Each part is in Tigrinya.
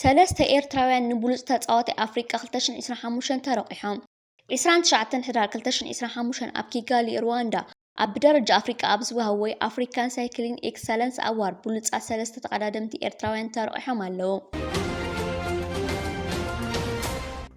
ሰለስተ ኤርትራውያን ንብሉጽ ተጻዋታይ ኣፍሪቃ ክልተ ሽሕን ዕስራን ሓሙሽተን ተረቚሖም። ዕስራን ትሽዓተን ሕዳር ክልተ ሽሕን ዕስራን ሓሙሽተን ኣብ ኪጋሊ ርዋንዳ ኣብ ብደረጃ ኣፍሪቃ ኣብ ዝወሃብ ወይ ኣፍሪካን ሳይክሊን ኤክሰለንስ ኣዋርድ ብሉጻት ሰለስተ ተቐዳደምቲ ኤርትራውያን ተረቚሖም ኣለዉ።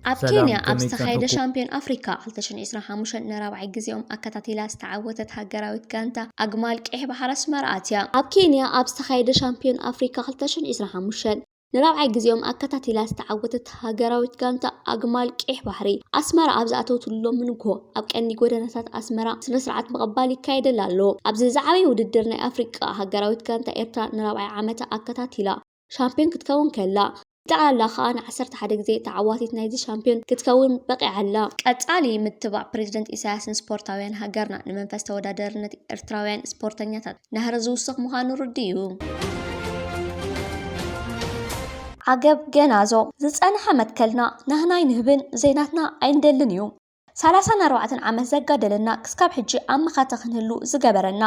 ኣብ ሰላም ኬንያ ኣብ ከመይ ዝተኻየደ ጸንሑኩ? ሻምፕዮን ኣፍሪካ ክልተ ሽሕን ዒስራን ሓሙሽተን ንራብዓይ ግዜኦም ኣከታቲላ ዝተዓወተት ሃገራዊት ጋንታ ኣግማል ቀይሕ ባሕሪ ኣስመራ ኣትያ። ኣብ ኬንያ ኣብ ዝተኻየደ ሻምፕዮን ኣፍሪካ ክልተ ሽሕን ዒስራን ሓሙሽተን ንራብዓይ ግዜኦም ኣከታቲላ ዝተዓወተት ሃገራዊት ጋንታ ኣግማል ቀይሕ ባሕሪ ኣስመራ ኣብ ዝኣተወትሉ ሎሚ ንግሆ ኣብ ቀንዲ ጎደናታት ኣስመራ ስነስርዓት ምቕባል ይካየደላ ኣሎ። ኣብዚ ዝዓበየ ውድድር ናይ ኣፍሪቃ ሃገራዊት ጋንታ ኤርትራ ንራብዓይ ዓመታ ኣከታቲላ ሻምፕዮን ክትከውን ከላ፣ ጠቕላላ ከኣ ን ዓሰርተ ሓደ ግዜ ተዓዋቲት ናይዚ ሻምፕዮን ክትከውን በቒዓ ኣላ። ቀጻሊ ምትባዕ ፕረዚደንት ኢሳያስ ንስፖርታውያን ሃገርና፣ ንመንፈስ ተወዳደርነት ኤርትራውያን ስፖርተኛታት ናህሪ ዝውስኽ ምዃኑ ርዱእ እዩ። ዓገብ ገናዞ ዝጸንሐ መትከልና ናህና ኣይንህብን ዘይናትና ኣይንደልን እዩ። ሰላሳን ኣርባዕተን ዓመት ዘጋደለና ክስካብ ሕጂ ኣብ መኸተ ክንህሉ ዝገበረና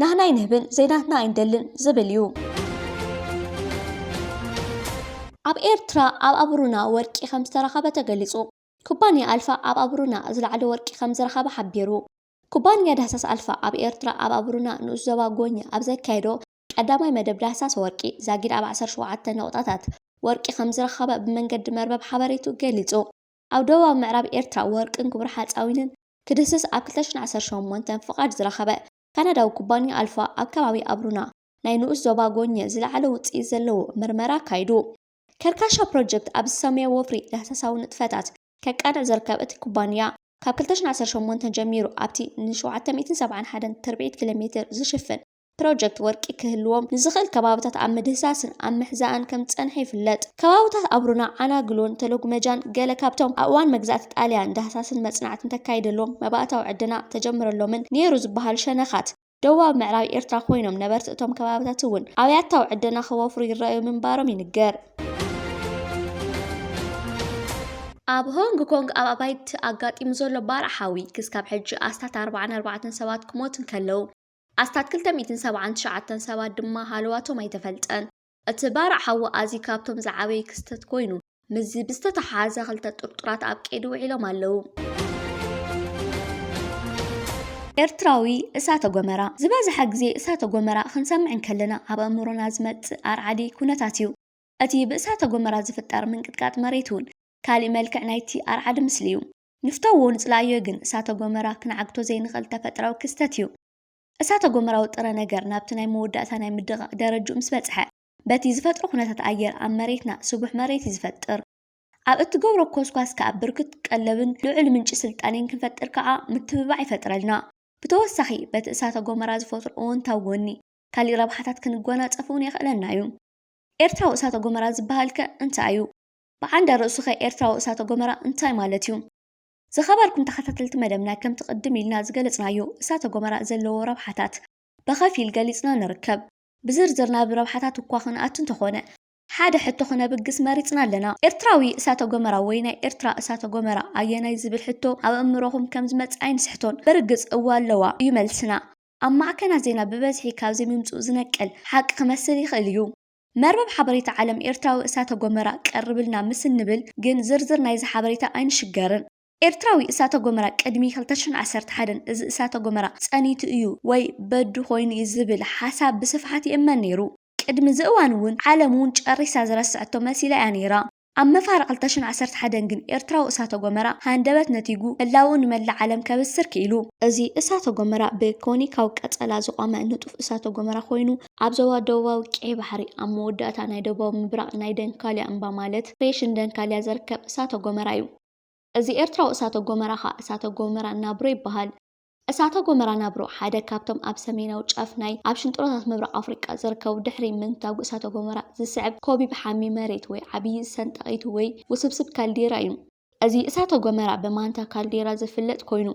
ናህና ኣይንህብን ዘይናትና ኣይንደልን ዝብል እዩ። ኣብ ኤርትራ ኣብ ኣቡሩና ወርቂ ከም ዝተረኸበ ተገሊጹ። ኩባንያ ኣልፋ ኣብ ኣቡሩና ዝለዓለ ወርቂ ከም ዝረኸበ ሓቢሩ። ኩባንያ ዳህሳስ ኣልፋ ኣብ ኤርትራ ኣብ ኣቡሩና ንኡስ ዞባ ጎኛ ኣብ ዘካየዶ ቀዳማይ መደብ ዳህሳስ ወርቂ ዛጊድ ኣብ ዓሰርተ ሸውዓተ ነቑጣታት ወርቂ ከም ዝረኸበ ብመንገዲ መርበብ ሓበሬቱ ገሊጹ። ኣብ ደቡባዊ ምዕራብ ኤርትራ ወርቅን ክቡር ሓጻዊንን ክድህስስ ኣብ ክልተ ሽሕን ዓሰርተ ሸሞንተን ፍቓድ ዝረኸበ ካናዳዊ ኩባንያ ኣልፋ ኣብ ከባቢ ኣብሩና ናይ ንኡስ ዞባ ጎኘ ዝለዓለ ውጽኢት ዘለዎ ምርመራ ኣካይዱ። ከርካሻ ፕሮጀክት ኣብ ዝሰመዮ ወፍሪ ዳህሳሳዊ ንጥፈታት ከቃንዕ ዝርከብ እቲ ኩባንያ፣ ካብ ክልተ ሽሕን ዓሰርተ ሸሞንተን ጀሚሩ ኣብቲ ን ሸውዓተ ሚእትን ሰብዓን ሓደን ትርብዒት ኪሎሜትር ዝሽፍን ፕሮጀክት ወርቂ ክህልዎም ንዝኽእል ከባብታት ኣብ ምድህሳስን ኣብ ምሕዛእን ከም ዝጸንሐ ይፍለጥ። ከባብታት ኣብሩና፣ ዓናግሎን ተሎግመጃን ገለ ካብቶም ኣብ እዋን መግዛእቲ ጣልያን ዳህሳስን መጽናዕትን ተካይደሎም መባእታዊ ዕደና ተጀምረሎምን ነይሩ ዝበሃሉ ሸነኻት ደቡባዊ ምዕራብ ኤርትራ ኮይኖም ነበርቲ እቶም ከባብታት እውን ኣብያታዊ ዕደና ከወፍሩ ይረኣዩ ምንባሮም ይንገር። ኣብ ሆንግ ኮንግ ኣብ ኣባይቲ ኣጋጢሙ ዘሎ ባርዕ ሓዊ ክስካብ ሕጂ ኣስታት ኣርብዓን ኣርባዕተን ሰባት ክሞት እንከለው፣ ኣስታት ክልተ ሚእትን ሰብዓን ትሽዓተን ሰባት ድማ ሃለዋቶም ኣይተፈልጠን። እቲ ባርዕ ሓዊ ኣዝዩ ካብቶም ዝዓበዩ ክስተት ኮይኑ፣ ምስዚ ብዝተተሓሓዘ ክልተ ጥርጡራት ኣብ ቀይዲ ውዒሎም ኣለዉ። ኤርትራዊ እሳተ ጎመራ። ዝበዝሐ ግዜ እሳተ ጎመራ ክንሰምዕ እንከለና ኣብ ኣእምሮና ዝመጽእ ኣርዓዲ ኩነታት እዩ። እቲ ብእሳተ ጎመራ ዝፍጠር ምንቅጥቃጥ መሬት እውን ካልእ መልክዕ ናይቲ ኣርዓዲ ምስሊ እዩ። ንፍተዎ ንጽላእዮ ግን እሳተ ጎመራ ክንዓግቶ ዘይንኽእል ተፈጥራዊ ክስተት እዩ። እሳተ ጎመራዊ ጥረ ነገር ናብቲ ናይ መወዳእታ ናይ ምድቓቕ ደረጅኡ ምስ በጽሐ፣ በቲ ዝፈጥሮ ኩነታት ኣየር ኣብ መሬትና ስቡሕ መሬት እዩ ዝፈጥር። ኣብ እትገብሮ ኮስኳስ ከኣ ብርክት ቀለብን ልዑል ምንጪ ስልጣኔን ክንፈጥር ከኣ ምትብባዕ ይፈጥረልና። ብተወሳኺ በቲ እሳተ ጎመራ ዝፈጥሮ እወንታዊ ጎኒ ካሊእ ረብሓታት ክንጎናጸፍ'ውን የኽእለና እዩ። ኤርትራዊ እሳተ ጎመራ ዝበሃል'ከ እንታይ እዩ? ብዓንደ ርእሱኸ ኤርትራዊ እሳተ ጎመራ እንታይ ማለት እዩ? ዝኸበርኩም ተኸታተልቲ መደብና ከምቲ ቅድም ኢልና ዝገለጽናዮ እሳተ ጎመራ ዘለዎ ረብሓታት ብኸፊል ገሊጽና ንርከብ። ብዝርዝር ናብ ረብሓታት እኳ ክንኣቱ እንተኾነ ሓደ ሕቶ ክነብግስ መሪጽና ኣለና። ኤርትራዊ እሳተ ጎመራ ወይ ናይ ኤርትራ እሳተ ጎመራ ኣየናይ ዝብል ሕቶ ኣብ ኣእምሮኹም ከም ዝመጽእ ኣይንስሕቶን። ብርግጽ እወ ኣለዋ እዩ መልስና። ኣብ ማዕከናት ዜና ብበዝሒ ካብ ዘይምምጽኡ ዝነቅል ሓቂ ክመስል ይኽእል እዩ። መርበብ ሓበሬታ ዓለም ኤርትራዊ እሳተ ጎመራ ቀርብልና ምስ እንብል ግን ዝርዝር ናይዚ ሓበሬታ ኣይንሽገርን። ኤርትራዊ እሳተ ጎመራ ቅድሚ ክልተ ሽሕን ዓሰርተ ሓደን እዚ እሳተ ጎመራ ጸኒቱ እዩ ወይ በዱ ኮይኑ እዩ ዝብል ሓሳብ ብስፍሓት ይእመን ነይሩ። ቅድሚ እዚ እዋን እውን ዓለም እውን ጨሪሳ ዝረስዐቶ መሲላ እያ ነይራ። ኣብ መፋርቕ ክልተ ሽሕን ዓሰርተ ሓደን ግን ኤርትራዊ እሳተ-ጎመራ ሃንደበት ነቲጉ ህላውኡ ንመላእ ዓለም ከብስር ክኢሉ። እዚ እሳተ-ጎመራ ብኮኒካዊ ቀጸላ ዝቖመ ንጡፍ እሳተ-ጎመራ ኮይኑ፣ ኣብ ዞባ ደቡባዊ ቀይሕ ባሕሪ ኣብ መወዳእታ ናይ ደቡባዊ ምብራቕ ናይ ደንካልያ እምባ ማለት ክሬሽን ደንካልያ ዝርከብ እሳተ-ጎመራ እዩ። እዚ ኤርትራዊ እሳተ-ጎመራ ከኣ እሳተ-ጎመራ ናብሮ ይበሃል። እሳተ ጎመራ ናብሮ፣ ሓደ ካብቶም ኣብ ሰሜናዊ ጫፍ ናይ ኣብ ሽንጥሮታት ምብራቕ ኣፍሪቃ ዝርከቡ ድሕሪ ምንታጕ እሳተ ጎመራ ዝስዕብ ኮቢብ ሓሚ መሬት ወይ ዓብዪ ዝሰንጣቒት ወይ ውስብስብ ካልዴራ እዩ። እዚ እሳተ ጎመራ ብማንታ ካልዴራ ዝፍለጥ ኮይኑ፣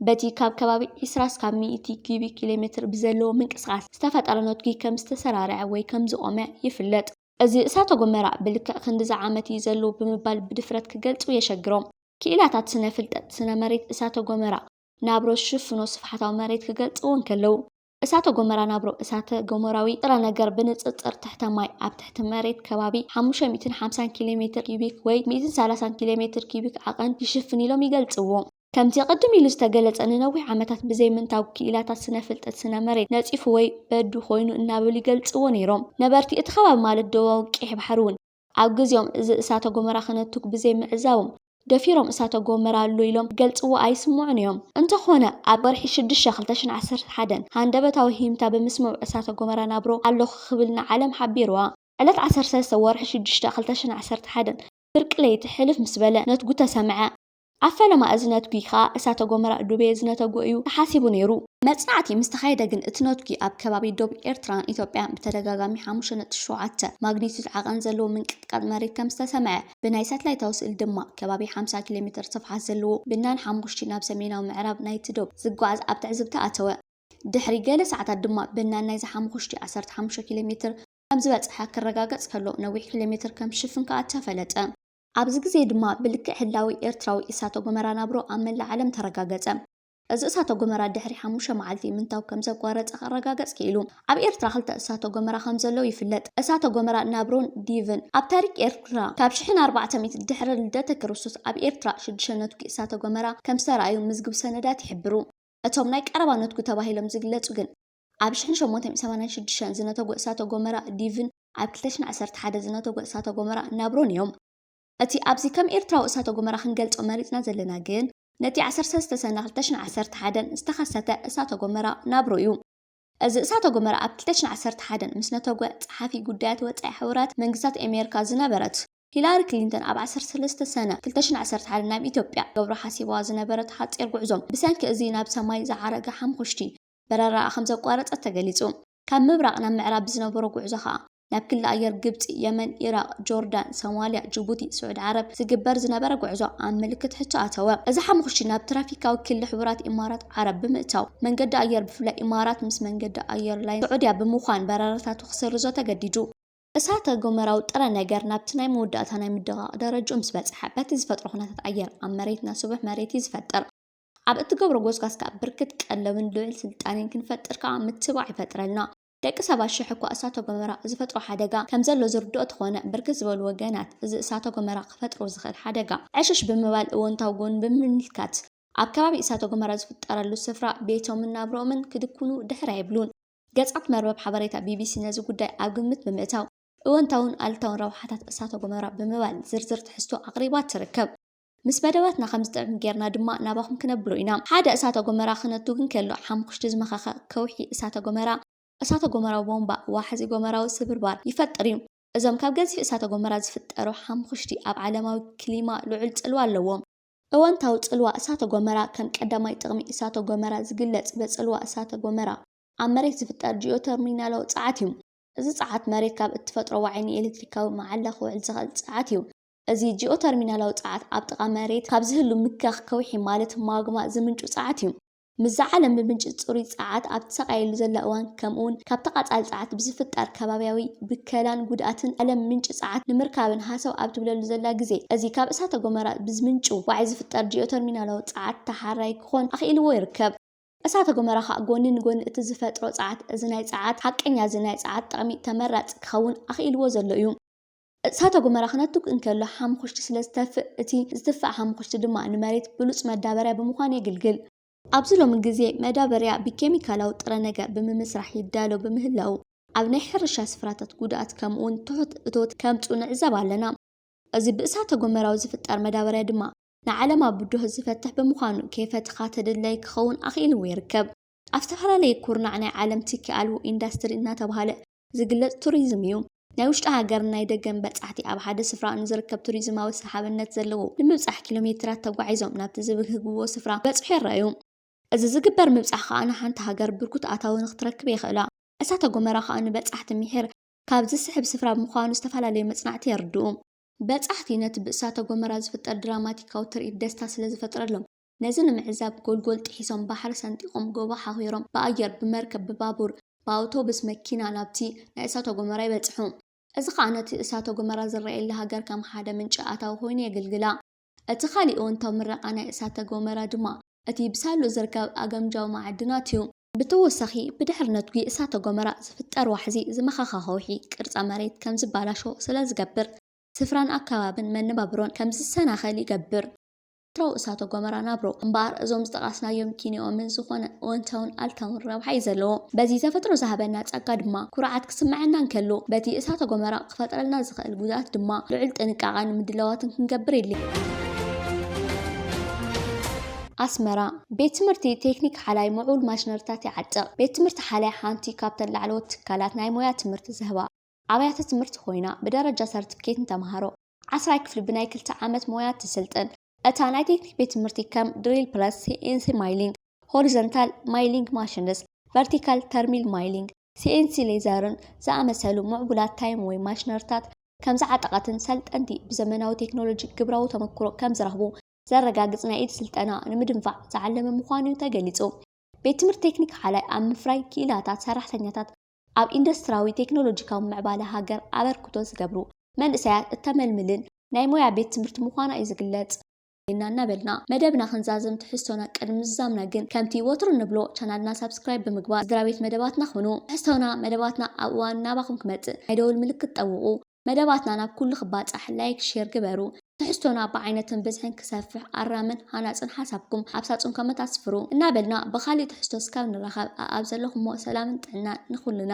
በቲ ካብ ከባቢ ዕስራ ስካብ ሚእቲ ኲቢክ ኪሎሜትር ብዘለዎ ምንቅስቓስ ዝተፈጠረ ነትጒ ከም ዝተሰራርዐ ወይ ከም ዝቖመ ይፍለጥ። እዚ እሳተ ጎመራ ብልክዕ ክንድዚ ዓመት እዩ ዘሎ ብምባል ብድፍረት ክገልጹ የሸግሮም። ክኢላታት ስነ-ፍልጠት ስነ-መሬት እሳተ-ጎመራ ናብሮ ዝሽፍኖ ስፍሓታዊ መሬት ክገልጽዎ እንከለዉ፣ እሳተ-ጎመራ ናብሮ እሳተ-ጎመራዊ ጥረ ነገር ብንጽጽር ትሕተ ማይ ኣብ ትሕቲ መሬት ከባቢ ሓሙሽተ ሚእትን ሓምሳን ኪሎ ሜትር ኪዩቢክ ወይ ሚእትን ሰላሳን ኪሎ ሜትር ኪዩቢክ ዓቐን ይሽፍን ኢሎም ይገልጽዎ። ከምቲ ቅድም ኢሉ ዝተገለጸ ንነዊሕ ዓመታት ብዘይምንታጉ ክኢላታት ስነ-ፍልጠት ስነ-መሬት ነጺፉ ወይ በዱ ኮይኑ እናበሉ ይገልጽዎ ነይሮም። ነበርቲ እቲ ከባቢ ማለት ደቡባዊ ቀይሕ ባሕሪ'ውን ኣብ ግዜኦም እዚ እሳተ ጎመራ ክነቱግ ብዘይምዕዛቦም፣ ደፊሮም እሳተ ጎመራ ኣሎ ኢሎም ክገልጽዎ ኣይስምዑን እዮም። እንተኾነ ኣብ ወርሒ ሽዱሽተ ክልተ ሽሕን ዓሰርተ ሓደን ሃንደበታዊ ሂምታ ብምስምዑ እሳተ ጎመራ ናብሮ ኣሎኹ ክብል ንዓለም ሓቢርዋ። ዕለት ዓሰርተ ሰለስተ ወርሒ ሽዱሽተ ክልተ ሽሕን ዓሰርተ ሓደን ፍርቂ ለይቲ ሕልፍ ምስ በለ ነትጉ ተሰምዐ። ኣብ ፈለማ እዚ ነትጒ ከኣ እሳተ ጎመራ ዱቤ ዝነተጎ እዩ ተሓሲቡ ነይሩ። መጽናዕቲ ምስ ተኻየደ ግን እቲ ነትጒ ኣብ ከባቢ ዶብ ኤርትራን ኢትዮጵያን ብተደጋጋሚ ሓሙሽተ ነጥቢ ሸውዓተ ማግኒቱድ ዓቐን ዘለዎ ምንቅጥቃጥ መሬት ከም ዝተሰምዐ፣ ብናይ ሳትላይታዊ ስእሊ ድማ ከባቢ ሓምሳ ኪሎሜተር ስፍሓት ዘለዎ ብናን ሓሙኽሽቲ ናብ ሰሜናዊ ምዕራብ ናይቲ ዶብ ዝጓዓዝ ኣብ ትዕዝብቲ ኣተወ። ድሕሪ ገለ ሰዓታት ድማ ብናን ናይዚ ሓሙኽሽቲ ዓሰርተ ሓሙሽተ ኪሎሜተር ከም ዝበጽሐ ክረጋገጽ ከሎ ነዊሕ ኪሎሜተር ከም ዝሽፍን ከኣ ተፈለጠ። ኣብዚ ግዜ ድማ ብልክዕ ህላዌ ኤርትራዊ እሳተ ጎመራ ናብሮ ኣብ መላእ ዓለም ተረጋገጸ። እዚ እሳተ ጎመራ ድሕሪ ሓሙሽተ መዓልቲ ምንታው ከም ዘቋረጸ ክረጋገጽ ክኢሉ። ኣብ ኤርትራ ክልተ እሳተ ጎመራ ከም ዘለው ይፍለጥ፣ እሳተ ጎመራ ናብሮን ዲቭን። ኣብ ታሪክ ኤርትራ ካብ ሽሕን ኣርባዕተ ሚእትን ድሕሪ ልደተ ክርስቶስ ኣብ ኤርትራ ሽዱሽተ ነትጒ እሳተ ጎመራ ከም ዝተራእዩ ምዝግብ ሰነዳት ይሕብሩ። እቶም ናይ ቀረባ ነትጒ ተባሂሎም ዝግለጹ ግን። ኣብ ሽሕን ሸሞንተን ሰማንያን ሽዱሽተን ዝነተጉ እሳተ ጎመራ ዲቭን ኣብ ክልተ ሽሕን ዓሰርተ ሓደን ዝነተጉ እሳተ ጎመራ ናብሮን እዮም። እቲ ኣብዚ ከም ኤርትራዊ እሳተ ጎመራ ክንገልጾ መሪጽና ዘለና ግን ነቲ ዓሰርተ ሰለስተ ሰነ ክልተ ሽሕን ዓሰርተ ሓደን ዝተኸሰተ እሳተ ጎመራ ናብሮ እዩ። እዚ እሳተ ጎመራ ኣብ ክልተ ሽሕን ዓሰርተ ሓደን ምስ ነተጉ ጸሓፊ ጉዳያት ወጻኢ ሕቡራት መንግስታት ኤሜርካ ዝነበረት ሂላሪ ክሊንተን ኣብ ዓሰርተ ሰለስተ ሰነ ክልተ ሽሕን ዓሰርተ ሓደን ናብ ኢትዮጵያ ክገብሮ ሓሲባዋ ዝነበረት ሓጺር ጉዕዞ ብሰንኪ እዚ ናብ ሰማይ ዝዓረገ ሓምኹሽቲ በረራኣ ከምዘቋረጸት ተገሊጹ። ካብ ምብራቕ ናብ ምዕራብ ብዝነበሮ ጉዕዞ ከኣ፣ ናብ ክሊ ኣየር ግብጺ፣ የመን፣ ኢራቕ፣ ጆርዳን፣ ሶማልያ፣ ጅቡቲ፣ ስዑዲ ዓረብ ዝግበር ዝነበረ ጉዕዞ ኣብ ምልክት ሕቶ ኣተወ። እዚ ሓሙኽሽቲ ናብ ትራፊካዊ ክሊ ሕቡራት ኢማራት ዓረብ ብምእታው፣ መንገዲ ኣየር ብፍላይ ኢማራት ምስ መንገዲ ኣየር ላይን ስዑድያ ብምዃን በረራታቱ ክስርዞ ተገዲዱ። እሳተ ጎመራዊ ጥረ ነገር ናብቲ ናይ መወዳእታ ናይ ምድቓቕ ደረጅኡ ምስ በጽሐ፣ በቲ ዝፈጥሮ ኩነታት ኣየር ኣብ መሬትና ስቡሕ መሬት'ዩ ዝፈጥር። ኣብ እትገብሮ ጎስጋስ ከኣ ብርክት ቀለብን ልዑል ስልጣኔን ክንፈጥር ከኣ ምትብባዕ ይፈጥረልና። ደቂ ሰባት ሽሕ እኳ እሳተ ጎመራ ዝፈጥሮ ሓደጋ ከም ዘሎ ዝርድኦ ተኾነ፣ ብርክት ዝበሉ ወገናት እዚ እሳተ ጎመራ ክፈጥሮ ዝኽእል ሓደጋ ዕሽሽ ብምባል እወንታዊ ጎኑ ብምምልካት ኣብ ከባቢ እሳተ ጎመራ ዝፍጠረሉ ስፍራ ቤቶምን ናብርኦምን ክድኩኑ ድሕር ኣይብሉን። ገጻት መርበብ ሓበሬታ ቢቢሲ ነዚ ጉዳይ ኣብ ግምት ብምእታው እወንታውን ኣሉታውን ረብሓታት እሳተ ጎመራ ብምባል ዝርዝር ትሕዝቶ ኣቕሪባ ትርከብ። ምስ መደባትና ከም ዝጥዕም ጌርና ድማ ናባኹም ክነብሎ ኢና። ሓደ እሳተ ጎመራ ክነቱ ግን ከሎ ሓሙኹሽቲ ዝመኸኸ ከውሒ እሳተ ጎመራ፣ እሳተ ጎመራዊ ቦምባ፣ ዋሕዚ ጎመራዊ ስብርባር፣ ይፈጥር እዩ። እዞም ካብ ገዚፍ እሳተ ጎመራ ዝፍጠሩ ሓሙኹሽቲ ኣብ ዓለማዊ ክሊማ ልዑል ጽልዋ ኣለዎም። እወንታዊ ጽልዋ እሳተ ጎመራ ከም ቀዳማይ ጥቕሚ እሳተ ጎመራ ዝግለጽ በጽልዋ እሳተ ጎመራ ኣብ መሬት ዝፍጠር ጂኦተርሚናላዊ ጸዓት እዩ። እዚ ጸዓት መሬት ካብ እትፈጥሮ ዋዒ ንኤለትሪካዊ መዓላ ክውዕል ዝኸእል ጸዓት እዩ። እዚ ጂኦተርሚናላዊ ጸዓት ኣብ ጥቓ መሬት ካብ ዝህሉ ምክያኽ ከውሒ ማለት ማግማ ዝምንጩ ጸዓት እዩ። ምስዛ ዓለም ብምንጪ ጽሩይ ጸዓት ኣብ ትሰቃየሉ ዘላ እዋን ከምኡውን ካብ ተቓጻሊ ጸዓት ብዝፍጠር ከባብያዊ ብከላን ጉድኣትን ዓለም ምንጪ ጸዓት ንምርካብን ሃሰው ኣብ ትብለሉ ዘላ ግዜ እዚ ካብ እሳተ ጎመራ ብዝምንጩ ዋዒ ዝፍጠር ጂኦተርሚናላዊ ጸዓት ተሓራይ ክኾን ኣኽኢልዎ ይርከብ። እሳተ ጎመራ ከኣ ጎኒ ንጎኒ እቲ ዝፈጥሮ ጸዓት እዚ ናይ ጸዓት ሓቀኛ እዚ ናይ ጸዓት ጠቕሚ ተመራጺ ክኸውን ኣኽኢልዎ ዘሎ እዩ። እሳተ ጎመራ ክነትግ እንከሎ ሓሙዅሽቲ ስለ ዝተፍእ፣ እቲ ዝትፋእ ሓሙዅሽቲ ድማ ንመሬት ብሉጽ መዳበርያ ብምዃን የግልግል። ኣብዚ ሎሚ ግዜ መዳበርያ ብኬሚካላዊ ጥረ ነገር ብምምስራሕ ይዳሎ ብምህላዉ፣ ኣብ ናይ ሕርሻ ስፍራታት ጉድኣት ከምኡ'ውን ትሑት እቶት ከምጽኡ ንዕዘብ ኣለና። እዚ ብእሳተ ጎመራዊ ዝፍጠር መዳበርያ ድማ ንዓለማ ብድሆ ዝፈትሕ ብምዃኑ ከይፈተኻ ተደላዪ ክኸውን ኣኽኢልዎ ይርከብ። ኣብ ዝተፈላለየ ኩርናዕ ናይ ዓለም ትኪ ኣልቦ ኢንዳስትሪ እናተባህለ ዝግለፅ ቱሪዝም እዩ። ናይ ውሽጢ ሃገርን ናይ ደገን በፃሕቲ ኣብ ሓደ ስፍራ ንዝርከብ ቱሪዝማዊ ሰሓብነት ዘለዎ ንምብፃሕ ኪሎ ሜትራት ተጓዒዞም ናብቲ ዝብህግዎ ስፍራ ክበፅሑ ይረኣዩ። እዚ ዝግበር ምብፃሕ ከዓ ንሓንቲ ሃገር ብርኩት ኣታዊ ንክትረክብ የኽእላ። እሳተ ጎመራ ከዓ ንበፃሕቲ ምሒር ካብ ዝስሕብ ስፍራ ምዃኑ ዝተፈላለዩ መፅናዕቲ የርድኡ። በፃሕቲ ነቲ ብእሳተ ጎመራ ዝፍጠር ድራማቲካዊ ትርኢት ደስታ ስለዝፈጥረሎም ነዚ ንምዕዛብ ጎልጎል ጥሒሶም፣ ባሕሪ ሰንጢቖም፣ ጎቦ ሓኺሮም፣ ብኣየር፣ ብመርከብ፣ ብባቡር፣ ብኣውቶቡስ፣ መኪና ናብቲ ናይ እሳተ ጎመራ ይበጽሑ። እዚ ኸኣ ነቲ እሳተ ጎመራ ዝረኣየላ ሃገር ከም ሓደ ምንጪ ኣታዊ ኾይኑ የግልግላ። እቲ ኻሊእ እወንታዊ ምረቓ ናይ እሳተ ጎመራ ድማ እቲ ብሳሉ ዝርከብ ኣገምጃዊ መዓድናት እዩ። ብተወሳኺ ብድሕሪ ነትጒ እሳተ ጎመራ ዝፍጠር ዋሕዚ ዝመኸኸ ኸውሒ ቅርጸ መሬት ከም ዝባላሾ ስለ ዝገብር፣ ስፍራን ኣከባብን መነባብሮን ከም ዝሰናኸል ይገብር። ተፈጥሮኣዊ እሳተ ጎመራ ናብሮ እምበኣር እዞም ዝጠቓስናዮም ኪንኦምን ዝኾነ እወንታውን ኣልታውን ረብሓ እዩ ዘለዎ። በዚ ተፈጥሮ ዝሃበና ጸጋ ድማ ኩርዓት ክስመዐና እንከሎ፣ በቲ እሳተ ጎመራ ክፈጥረልና ዝኸእል ጉድኣት ድማ ልዑል ጥንቃቐን ምድላዋትን ክንገብር የድልየና። ኣስመራ፣ ቤት ትምህርቲ ቴክኒክ ሓላይ ምዕቡል ማሽነሪታት ይዓጥቕ። ቤት ትምህርቲ ሓላይ ሓንቲ ካብተን ላዕለዎት ትካላት ናይ ሞያ ትምህርቲ ዝህባ፣ ኣብያተ ትምህርቲ ኮይና ብደረጃ ሰርቲፊኬት ንተምሃሮ ዓስራይ ክፍሊ ብናይ ክልተ ዓመት ሞያ ትስልጥን። እታ ናይ ቴክኒክ ቤት ትምህርቲ ከም ድሪል ፕረስ፣ ሲኤንሲ ማይሊንግ፣ ሆሪዘንታል ማይሊንግ ማሽንስ፣ ቨርቲካል ተርሚል ማይሊንግ፣ ሲኤንሲ ሌዘርን ዝኣመሰሉ ምዕቡላት ታይም ወይ ማሽነርታት ከምዝዓጠቐትን ሰልጠንቲ ብዘመናዊ ቴክኖሎጂ ግብራዊ ተመክሮ ከምዝረኽቡ ዘረጋግፅ ናይ ኢድ ስልጠና ንምድንፋዕ ዝዓለመ ምዃኑ ተገሊፁ። ቤት ትምህርቲ ቴክኒክ ሓላይ ኣብ ምፍራይ ክኢላታት ሰራሕተኛታት ኣብ ኢንዱስትራዊ ቴክኖሎጂካዊ ምዕባለ ሃገር ኣበርክቶ ዝገብሩ መንእሰያት እተመልምልን ናይ ሞያ ቤት ትምህርቲ ምዃና እዩ ዝግለጽ። ዜና እናበልና መደብና ክንዛዝም ትሕዝቶና ቅድሚ ምዝዛምና ግን ከምቲ ወትሩ እንብሎ ቻናልና ሳብስክራይብ ብምግባር ስድራቤት መደባትና ኩኑ። ትሕዝቶና መደባትና ኣብ እዋኑ ናባኹም ክመጽእ ናይ ደወል ምልክት ጠውቑ። መደባትና ናብ ኩሉ ክባጻሕ ላይክ ሼር ግበሩ። ትሕዝቶና ብዓይነትን ብዝሕን ክሰፍሕ ኣራምን ሃናጽን ሓሳብኩም ኣብ ሳጹን ኮመት ኣስፍሩ። እናበልና ብኻሊእ ትሕዝቶ እስካብ ንራኸብ ኣኣብ ዘለኹሞ ሰላምን ጥዕናን ንኹልና።